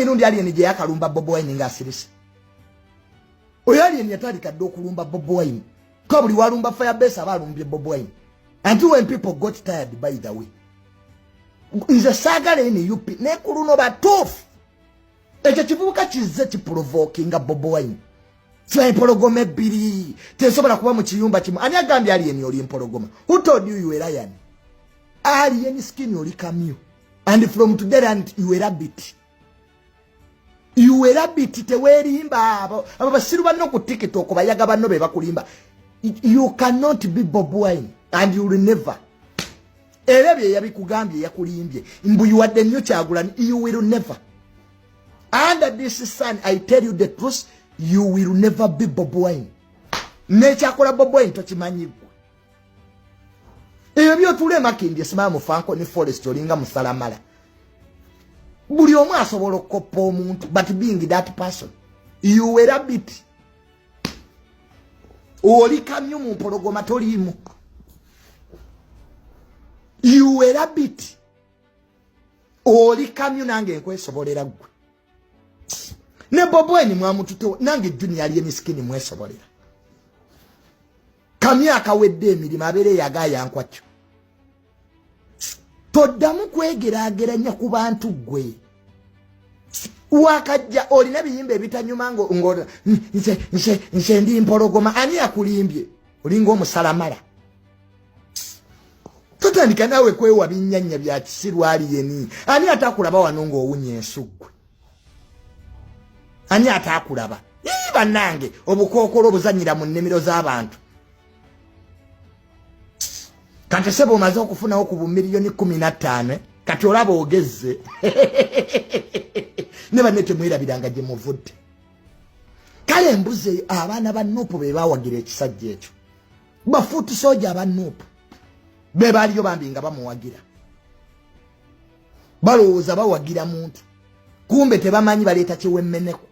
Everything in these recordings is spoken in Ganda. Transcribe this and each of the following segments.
emirundi alien gye yakalumba bobo wine nga asirise oyo alien yatandika dda okulumba bobo wine ka buli walumba firebase aba alumbye bobo wine anti when people got tired by the way nze saagala ene up naye ku luno batuufu ekyo kivubuka kizze kiprovoki nga bobo wine kiba empologoma ebbiri tesobola kuba mu kiyumba kimu ani agambye alien oli empologoma who told you you were lion alien skin oli kamyu and from today and you were a bit you were a bit tewerimba abo abo basiru banno ku tiktok bayaga banno be bakulimba you cannot be bob wine and you will never era bye yabikugambye yakulimbye mbu you are the new kyagulan you will never under this sun i tell you the truth you will never be bob wine nekyakola bob wine tokimanyi ebyo byotula emakindi esimaya mufanko ne forest olinga musalamala buli omu asobola okukoppa omuntu but being that person you were a bit oli kamyu mu mpologoma toliimu you were a bit oli kamyu nange nkwesobolera gwe ne bobweni mwamututewo nange junior aliye miskini mwesobolera kamyaka wedde emirimu abeera eyagaayankwakyo toddamu kwegeraageranya ku bantu ggwe wakajja olina ebiyimba ebitanyuma nze ndi mpologoma ani yakulimbye olinga omusalamala totandika naawe kwewa binnyanya bya kisirwaliyeni ani atakulaba wano ng'owunya ensuggwe ani ataakulaba ii bannange obukookolo obuzanyira mu nnimiro z'abantu kati sebo omaze okufunawo ku bumiliyoni kumi na ttaano eh? kati olaba ogezze ne banne temwerabiranga gye muvudde kale embuzi eyo abaana ba nuupu be bawagira ekisajja ekyo bafuuti sooja aba nuupu be baaliyo bambi nga bamuwagira balowooza bawagira muntu kumbe tebamanyi baleeta kyewemeneko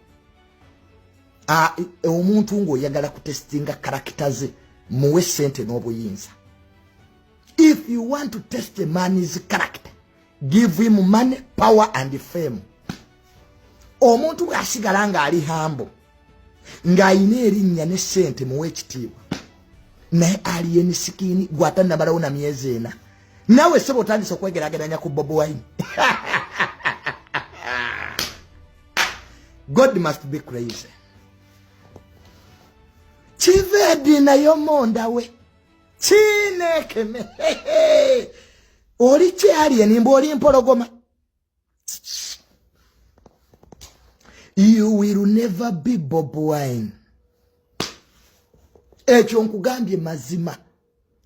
e, omuntu ngaoyagala kutestinga karakita ze muwe sente n'obuyinza if you want to test a man is character give him money power and fame omuntu bwasigala ng'ali hambo ng'alina erinnya ne ssente muwa ekitiibwa naye aliye ni sikini gwata nabalawo na myezi ena nawe sebo otandise okwegerageranya ku bob wine god must be crazy kivedi nayo mondawe kinekeme oli kyaliye nimba oli mpologoma you will never be bob wine ekyo nkugambye mazima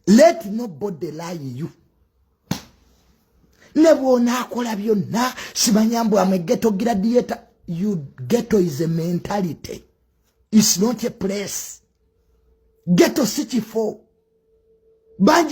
let nobody lie you ne bwonaakola byonna simanya mbu am egeto gradiator you geto is a mentality its not a place geto si kifo bangi